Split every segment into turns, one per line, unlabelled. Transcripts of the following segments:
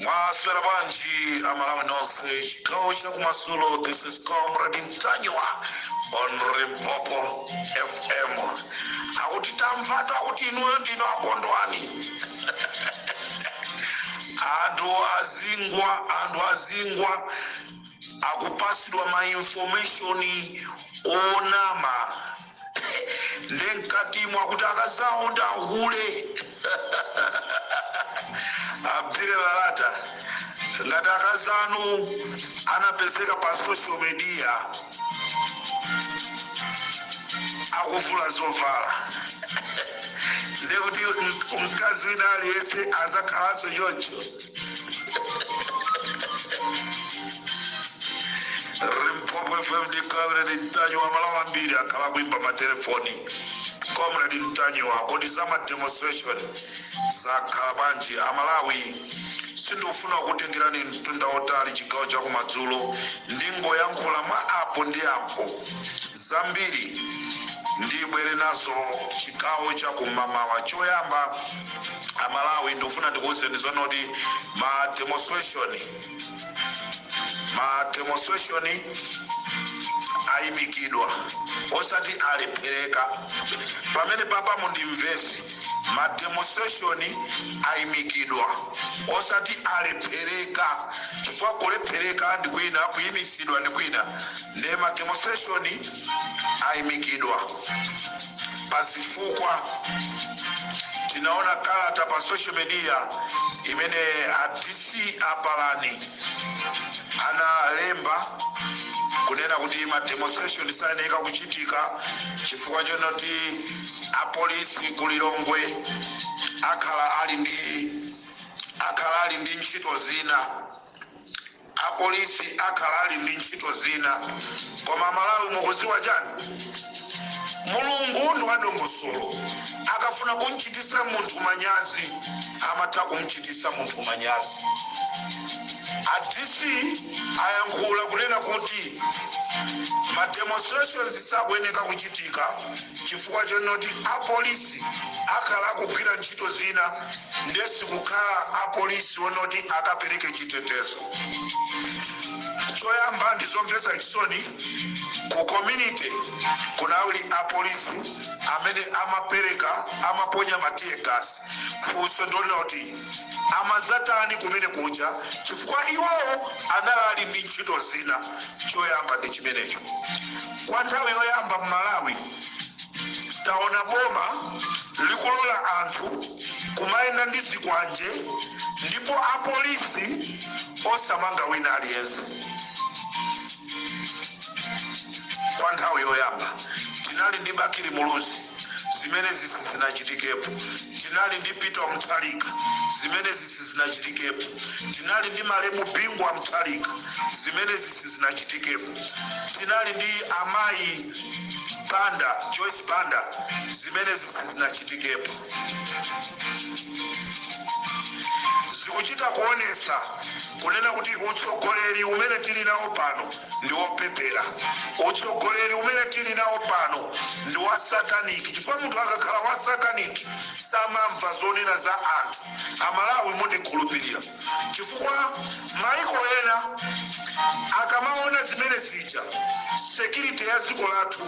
mwaswera bwanji aMalawi nonse chigawo chakumadzulo this is comrade Ntanyiwa on Limpopo FM akuti tamvatu akuti inuyo ndinu a Kondwani anthu azingwa anthu azingwa akupatsidwa ma information onama nde mkatimo akuti akazawo ndi ahule Abdillah Latta ngati akazanu anapezeka pa social media akuvula zovala ndiye kuti mkazi wina aliyense azakhalanso choncho Limpopo FM ndi comrade Ntanyiwa aMalawi ambiri akhala akuimba matelefoni comrade Ntanyiwa kodi za mademonstration zakhala bwanji aMalawi sindikufuna kukutengerani mtunda wautali chigawo chakumadzulo ndingoyankhula mwa apo ndi apo zambiri ndibwere nazo chigawo cha kumamawa choyamba aMalawi ndikufuna ndikuwuzeni zonoti ma demonstration ma demonstration ayimikidwa osati alephereka pamenepapa mundimvetse ma demonstration ayimikidwa osati alephereka chifukwa kulephereka ndi kwina kuyimitsidwa ndi kwina Nde ma demonstration aimikidwa pa zifukwa. Tinaona kalata pa social media imene a DC a Palani analemba kunena kuti ma demonstration sayeneka kuchitika chifukwa chonoti a polisi ku Lilongwe akhala ali ndi akhala ali ndi ntchito zina. Apolisi akhala ali ndi ntchito zina koma aMalawi mukudziwa chani? Mulungu ndi wadongosolo akafuna kumchitisa munthu manyazi amatha kumchitisa munthu manyazi. A DC ayankhula kunena kuti ma demonstrations sakuyeneka kuchitika chifukwa chonoti apolisi akhala akugwira ntchito zina ndikusiya kukhala apolisi onoti akapereke chitetezo choyamba ndizomvetsa chisoni ku community kunali apolisi amene amapereka amaponya ma tear gas funso ndi lonena kuti amadzatani kumene kuja chifukwa iwowo anali ali ndi ntchito zina choyamba ndi chimenecho kwa nthawi yoyamba m'malawi taona boma likulola anthu kumayenda ndi zikwanje ndipo apolisi osamanga wina aliyense kwa nthawi yoyamba tinali ndi bakili muluzi zimenezi sizinachitikepo tinali ndi peter mutharika zimenezi sizinachitikepo tinali ndi malemu bingu wa mutharika zimenezi sizinachitikepo tinali ndi amayi banda joyce banda zimenezi sizinachitikepo zikuchita kuonetsa kunena kuti utsogoleri umene tili nawo pano ndi wopepera utsogoleri umene tili nawo pano ndi wa sataniki chifukwa munthu akakhala wa sataniki samamva zonena za anthu amalawi mundikhululukire chifukwa maiko ena akamaona zimene zija security ya dziko lathu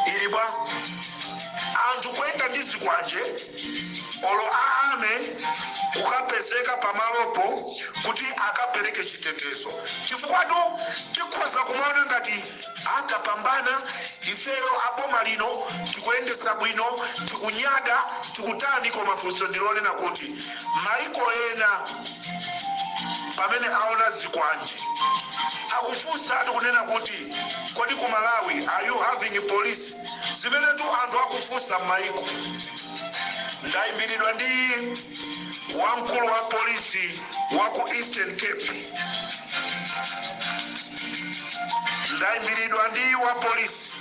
ili bwa anthu kuyenda ndi zikwanje olo a army kukapezeka pamalopo kuti akapereke chitetezo chifukwatu tikhoza kumaona ngati takapambana ifeyo aboma lino tikuyendetsa bwino tikunyada tikutani koma funso ndi lonena kuti maiko ena pamene aona zikwanje akufunsa ati kunena kuti kodi ku malawi are you having police zimenetu anthu akufunsa m'maiko ndayimbiridwa ndi wamkulu wa polisi wa ku Eastern Cape ndaimbiridwa ndi wa polisi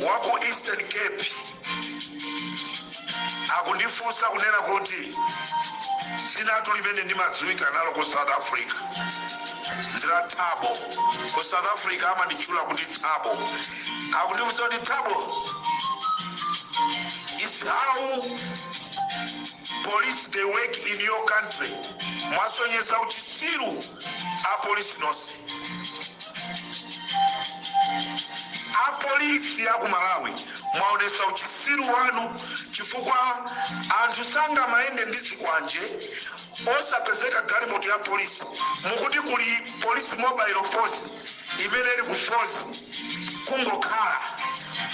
wa ku Eastern Cape akundifunsa kunena kuti dzinatu limene ndimadziwika nalo ku South Africa ndi la Thabo ku South Africa amanditchula kuti Thabo akundifunsa kuti Thabo is how police they work in your country mwasonyeza uchitsiru apolisi nonse apolisi aku malawi mwaonetsa uchitsiru wanu chifukwa anthu sangamayende ndi zikwanje osapezeka galimoto ya polisi mukuti kuli police mobile force imene ili ku force kungokhala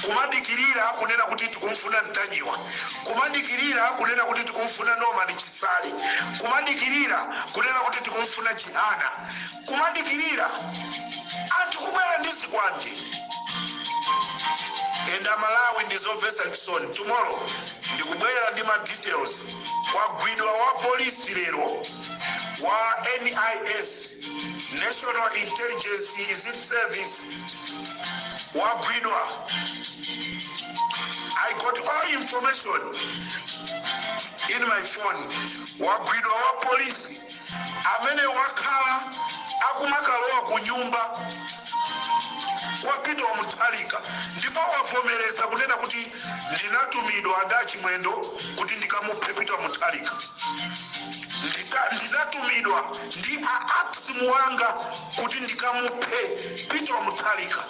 kumadikilira kunena kuti tikumfuna Ntanyiwa, kumadikilira kunena kuti tikumfuna Norman Chisale, kumadikilira kunena kuti tikumfuna Chihana, kumadikilira anthu kubwera ndi zikwanje and a Malawi ndizomvetsa chisoni tomorrow ndikubwera ndi ma details kwagwidwa wa polisi lero wa NIS national intelligence is it service wagwidwa i got all information in my phone wagwidwa wa polisi amene wakhala akumakalowa ku nyumba kwa peter mutharika ndipo wavomereza kunena kuti ndinatumidwa ndi achimwendo kuti ndikamuphe peter mutharika ndinatumidwa ndi a apsimu wanga kuti ndikamuphe peter mutharika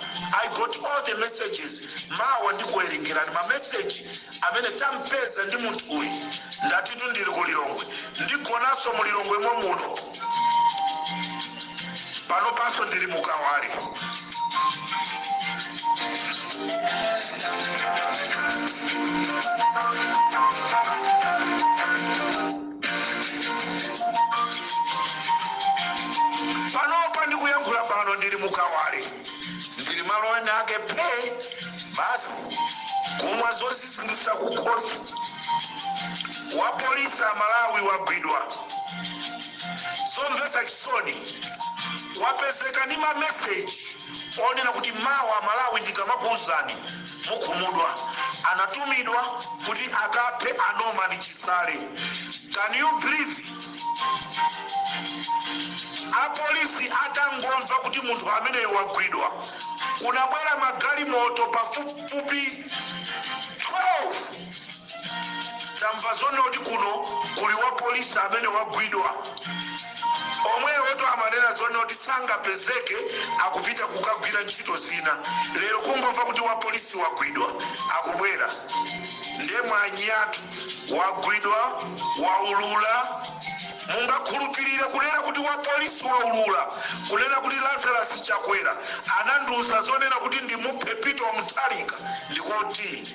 i got all the messages mawa ndikuwerengerani mameseji amene tampeza ndi munthu uyu ndatitu ndili ku lilongwe ndigonanso mu lilongwe momuno panopanso ndili mukawale panopa ndikuyankhula pano ndili mukawale ndili malo ena ake phe basi kumwa zoziziritsa kukhosi wapolisi amalawi wagwidwa zomvetsa chisoni wapezeka ndi mameseji onena kuti mawa malawi ndikamakuuzani mukhumudwa anatumidwa kuti akaphe a Norman Chisale can you believe apolisi atangomva kuti munthu ameneyo wagwidwa kunabwera magalimoto pafupifupi 12 tamva zonena kuti kuno kuli wa polisi amene wagwidwa omwewotu amanena zonena kuti sangapezeke akupita kukagwira ntchito zina lero kungomva kuti wa polisi wagwidwa akubwera ndiye mwanyiyatu wagwidwa waulula mungakhulupirire kunena kuti wa polisi waulula kunena kuti lazarus chakwera anandiuza zonena kuti ndimuphe peter mutharika ndikoti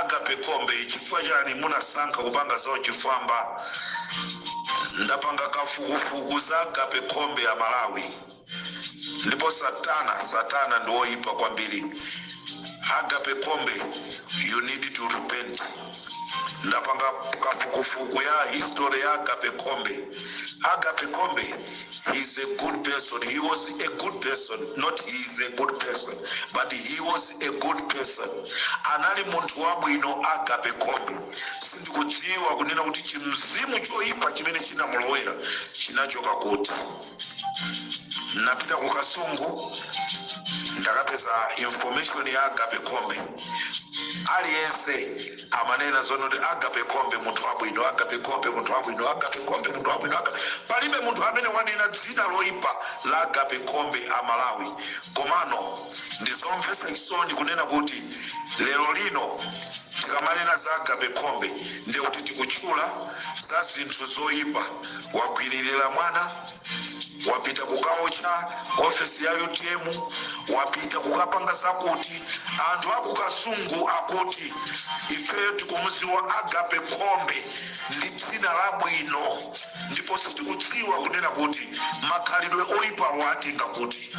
agape kombe chifukwa chani munasankha kupanga zauchifwamba ndapanga kafukufuku za agape kombe a malawi ndipo satana satana ndi woyipa kwambiri agape kombe you need to repent ndapanga kafukufuku ya history ya agape kombe agape kombe he is a good person he was a good person not he is a good person but he was a good person anali munthu wabwino agape kombe sindikudziwa kunena kuti chimzimu choyipa chimene chinamulowera chinachoka kuti ndapita ku kasungu ndakapeza information ya agape khombe aliyense amanena zono kuti agape khombe munthu wabwino agape khombe munthu wabwino agape khombe munthu wabwino Aga- palibe munthu amene wanena dzina loipa la agape khombe a malawi komano ndizomvetsa chisoni kunena kuti lero lino tikamanena za agape khombe ndekuti tikutchula za zinthu zoipa wagwililira mwana wapita kukaotcha ofesi ya utm wapita kukapanga zakuti anthu akukasungu akuti ifeyo tikumudziwa agape khombe ndi dzina labwino ndipo sitikudziwa kunena kuti makhalidwe oyipa watenga kuti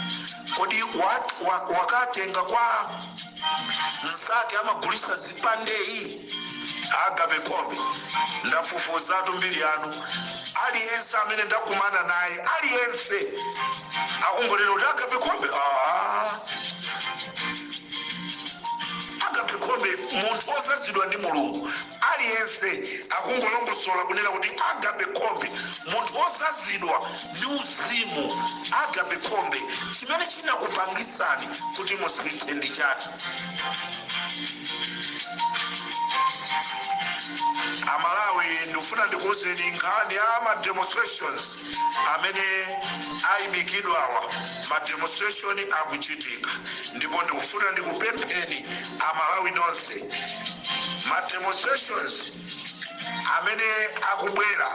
kodi wat- wa- wakatenga kwa mzake amagulisa zipandeyi agape kombe ndafufuzatu mbiri yanu aliyense amene ndakumana naye aliyense akungonena kuti agape khombe aa agape khombe munthu odzazidwa ndi mulungu Aliyense akungolongosola kunena kuti agape khombe, munthu wodzazidwa ndi uzimu agape khombe, chimene chinakupangisani kuti musinthe ndi chati? Amalawi ndikufuna ndikuuzeni nkhani ya ma demonstrations. amene ayimikidwawa ma demonstration akuchitika ndipo ndikufuna ndikupempheni amalawi nonse ma demonstrations amene akubwera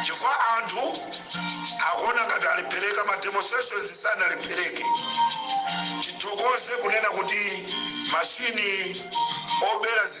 chifukwa anthu akuona ngati alephereka ma demonstrations sanalephereke tithokoze kunena kuti mashini obera zi-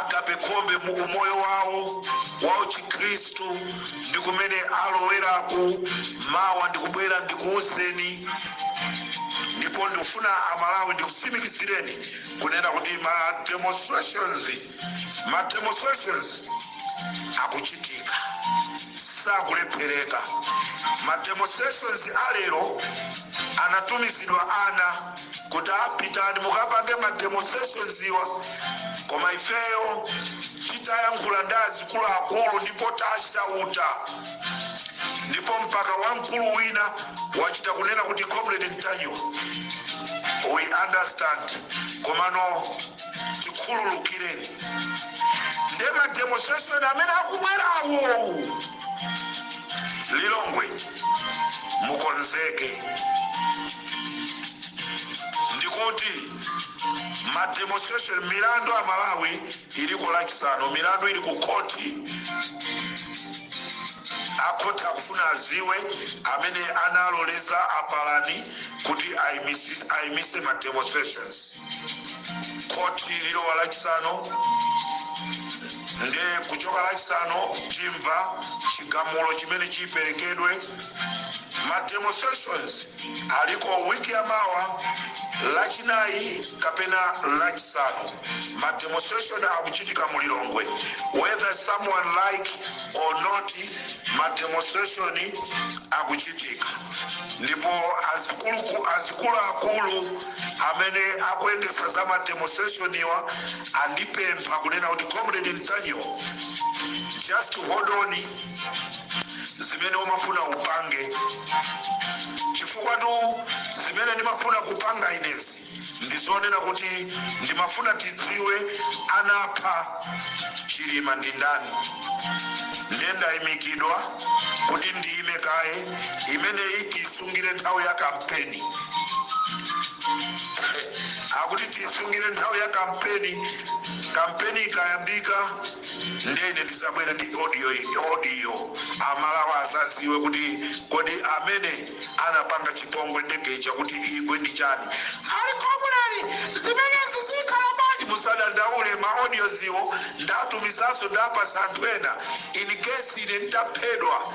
Agape Khombe mu umoyo wawo wa uchikhristu ndi kumene aloweraku mawa ndikubwera ndikuwuzeni ndipo ndikufuna amalawi ndikutsimikizireni kunena kuti ma demonstrations ma demonstrations akuchitika sakulephereka ma demonstrations alero anatumizidwa ana kuti apitani mukapange ma demonstrations iwa koma ifeyo titayankhula ndi azikuluakulu ndipo tashauta ndipo mpaka wamkulu wina wachita kunena kuti comrade ntanyiwa we understand komano tikhululukireni nde ma demonstration amene akubwerawo lilongwe mukonzeke ndikuti ma demonstration milandu amalawi ili ku lachisanu milandu ili ku khoti akhoti akufuna aziwe amene analoleza a palani kuti aimise ma demonstrations khoti lilowa lachisanu nde kuchoka lachisanu timva chigamulo chimene chiperekedwe ma demonstrations aliko wiki ya mawa lachinayi kapena lachisanu ma demonstration akuchitika mu lilongwe whether someone like or not ma demonstration akuchitika ndipo azikuluakulu amene akuyendetsa za ma demonstration iwa andipempha kunena kuti comrade ntanyiwa just hold on zimene umafuna upange chifukwa tu zimene ndimafuna kupanga inezi ndizonena kuti ndimafuna tidziwe anapha chilima ndi ndani ndiye ndayimikidwa kuti ndiyime kaye imeneyi tisungire nthawi ya kampeni akuti tisungire nthawi ya kampeni kampeni ikayambika ndene tizabwera ndi audio amalawi azaziwe kuti kodi amene anapanga chipongwe ndege ija kuti igwe ndi chani ali comrade zimenezi zikhala bwanji musadandaule ma audios iwo ndatumizanso ndapasa anthu ena in case ine nditaphedwa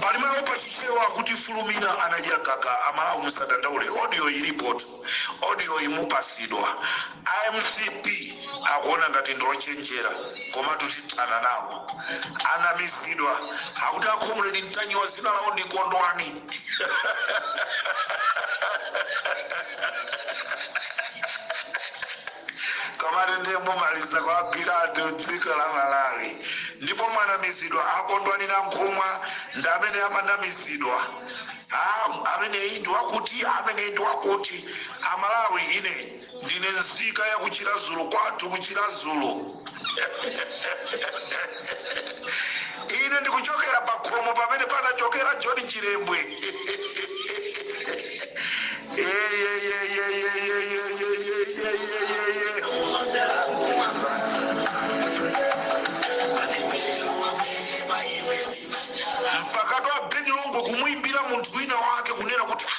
pali mawu pachichewa kuti fulumira anadya gaga amalawi musadandaule audio ilipotu audio imupasidwa a mcp akuona ngati ndiochenjera komatu tithana nawo anamizidwa akuti akhumuleni ntanyiwa dzina lawo ndi kondwani komati ndiye mumaliza kwagwira anthu dziko la malawi ndipo mwanamizidwa a kondwani nankhumwa ndi amene amanamizidwa Ah, amene ndi wakuti amene ndi wakuti amalawi ine ndine nzika ya kuchiradzulu kwathu kuchiradzulu ine ndikuchokera pa khomo pamene panachokera john chilembwe mpaka kwa abeni longwe kumuimbira munthu wina wake kunena kuti "Ah,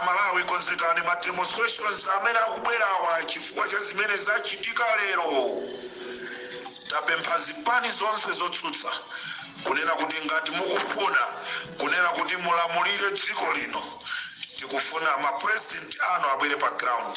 amalawi konzekani ma demonstrations amene akubwerawa chifukwa cha zimene zachitika lero tapempha zipani zonse zotsutsa kunena kuti ngati mukufuna kunena kuti mulamulire dziko lino tikufuna ma president anu abwere pa ground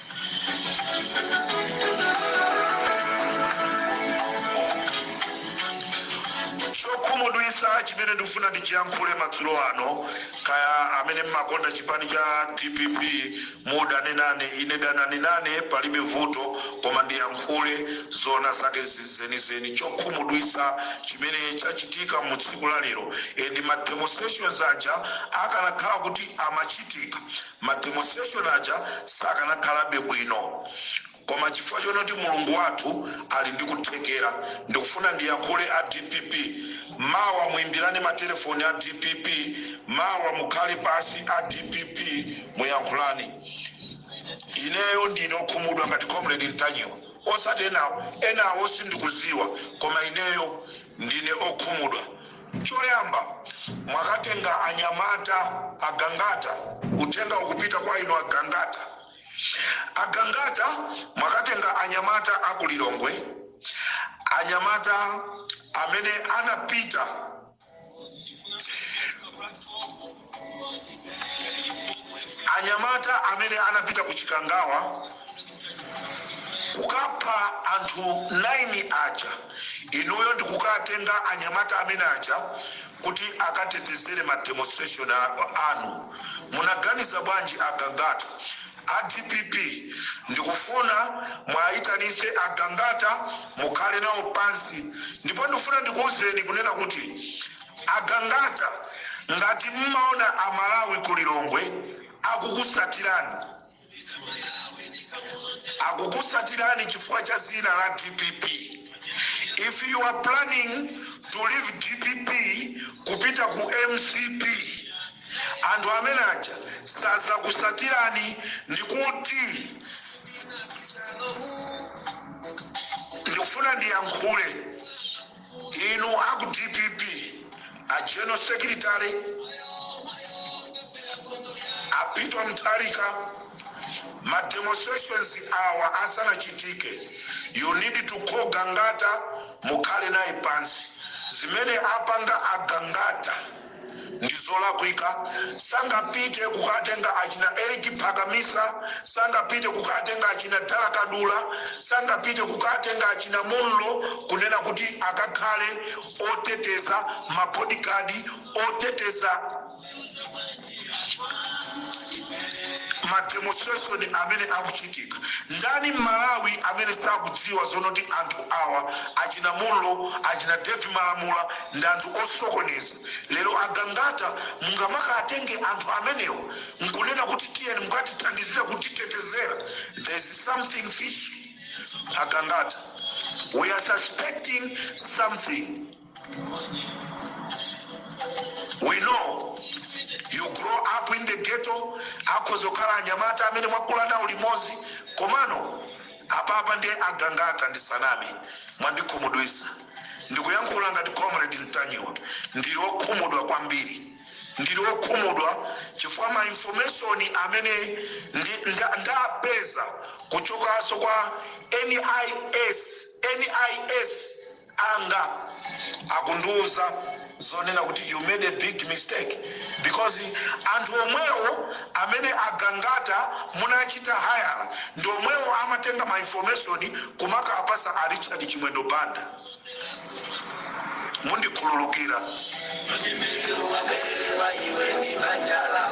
chokhumudwitsa chimene ndikufuna ndichiyankhule madzulo ano kaya amene mmakonda chipani cha dpp mudane nane ine danani nane palibe vuto koma ndiyankhule zoona zake zenizeni chokhumudwitsa chimene chachitika mu tsiku la lero and ma demonstrations aja akanakhala kuti amachitika ma demonstration aja sakanakhalabe bwino koma chifukwa chonoti mulungu wathu ali ndi kuthekera ndikufuna ndiyankhule a dpp mawa muimbirane matelefoni a dpp mawa mukhale pasi a dpp muyankhulane ineyo ndine okhumudwa ngati comrade ntanyiwa osati enawo enawo sindikuziwa koma ineyo ndine okhumudwa Choyamba, mwakatenga anyamata agangata, uthenga ukupita kwa inu agangata. Agangata mwakatenga anyamata a ku Lilongwe, anyamata amene anapita anyamata amene anapita ku chikangawa kukapha anthu 9 aja inuyo ndikukatenga anyamata amene aja kuti akatetezere ma demonstration anu munaganiza bwanji a gangata a dpp ndikufuna muwayitanise a gangata mukhale nawo pansi ndipo ndikufuna ndikuwuzeni kunena kuti A Gangata ngati mmaona a Malawi ku Lilongwe akukusatirani, akukusatirani chifukwa cha zina la dpp. If you are planning to leave dpp kupita ku mcp, anthu amene aja sazakusatirani ndikuti ndikufuna ndiyankhule. Inu aku dpp a general secretary a Peter Mutharika ma demonstrations awa asanachitike you need to call Gangata mukhale naye pansi zimene apanga a Gangata ndizolakwika sangapite kukatenga achina eric phakamisa sangapite kukatenga achina dala kadula sangapite kukatenga achina munlo kunena kuti akakhale oteteza mabodyguard oteteza mademonstration amene akuchitika ndani mmalawi amene sakudziwa zonoti anthu awa achina munlo achina david malamula ndi anthu osokoneza. Lero a Gangata mungamakaatenge anthu amenewa nkunena kuti tiyeni mukatithandizire kutitetezera, there is something fishy a Gangata. We are suspecting something. We know you grow up in the ghetto akhoza kukhala anyamata amene mwakula nawo limodzi komano apapa ndiye agangata ndisaname mwandikhumudwisa ndikuyankhula ngati comrade mtanyiwa ndili okhumudwa kwambiri ndili okhumudwa chifukwa ma information amene ndapeza kuchokanso kwa nis anga akundiuza zonena kuti you made a big mistake because anthu omwewo amene agangata munachita hayala ndi omwewo amatenga ma information kumakaapatsa a Richard Chimwendo Banda mundikhululukira Mtimbiru wabeba iwe ni banjala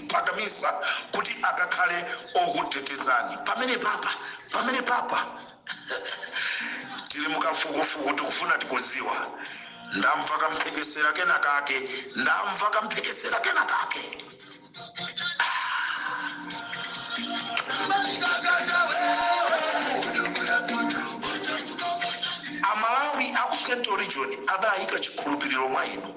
phakamisa kuti akakhale okutetezani pamenepapa pamenepapa tili mukafukufuku tikufuna tidziwe ndamva kamphekesera kena kake ndamva kamphekesera kena kake amalawi aku central region adayika chikhulupiriro mwa inu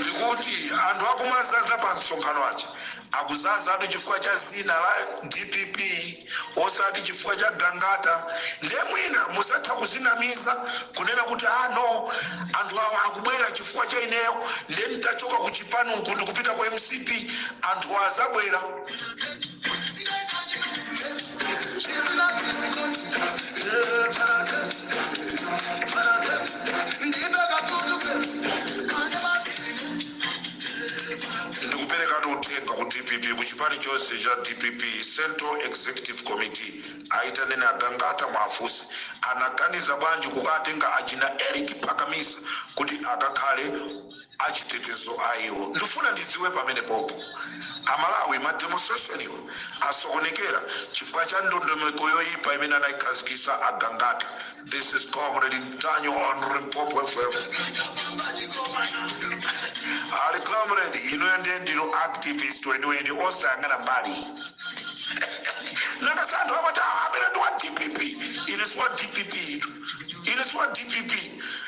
ndikuti anthu akumazaza pa msonkhano aja akuzazatu chifukwa cha zina la dpp osati chifukwa cha gangata nde mwina muzatha kuzinamiza kunena kuti a no anthu awa akubwera chifukwa cha ineyo nde nditachoka ku chipani kuno ndikupita ku mcp anthu azabwera ndikuperekatu uthenga ku dpp ku chipani chonse cha dpp central executive committee ayitaneni agangata muwafunse anaganiza bwanji kukaatenga achina eric phakamisa kuti akakhale achitetezo a iwo. Ndifuna ndidziwe pamenepopo Amalawi ma demonstration iwo asokonekera chifukwa cha ndondomeko yoyipa imene anayikhazikisa a Gangata. This is Comrade Ntanyiwa on Limpopo FM. A comrade inuyo ndiye ndinu activist weniweni osayang'ana mbali. Nanga anthu amati "Ah, amene ndi wa DPP." Ine si wa DPP itu. Ine si wa DPP.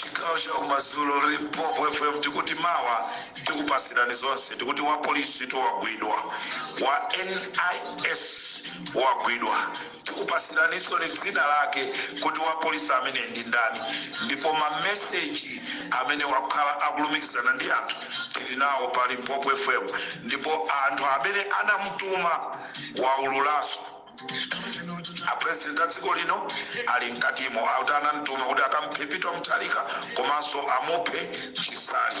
chigawo cha kumadzulo limpopo fm tikuti mawa tikupasirani zonse tikuti wa polisi tu wagwidwa wa nis wagwidwa Tikupasiraninsoni dzina lake kuti wa polisi ameneyi ndi ndani ndipo ma message amene wakhala akulumikizana ndi anthu tili nawo pa Limpopo FM ndipo anthu amene anamutuma waululaso. A president a dziko lino ali mkatimo akuti anamtuma kuti akamuphe Peter Mutharika komanso amuphe Chisale.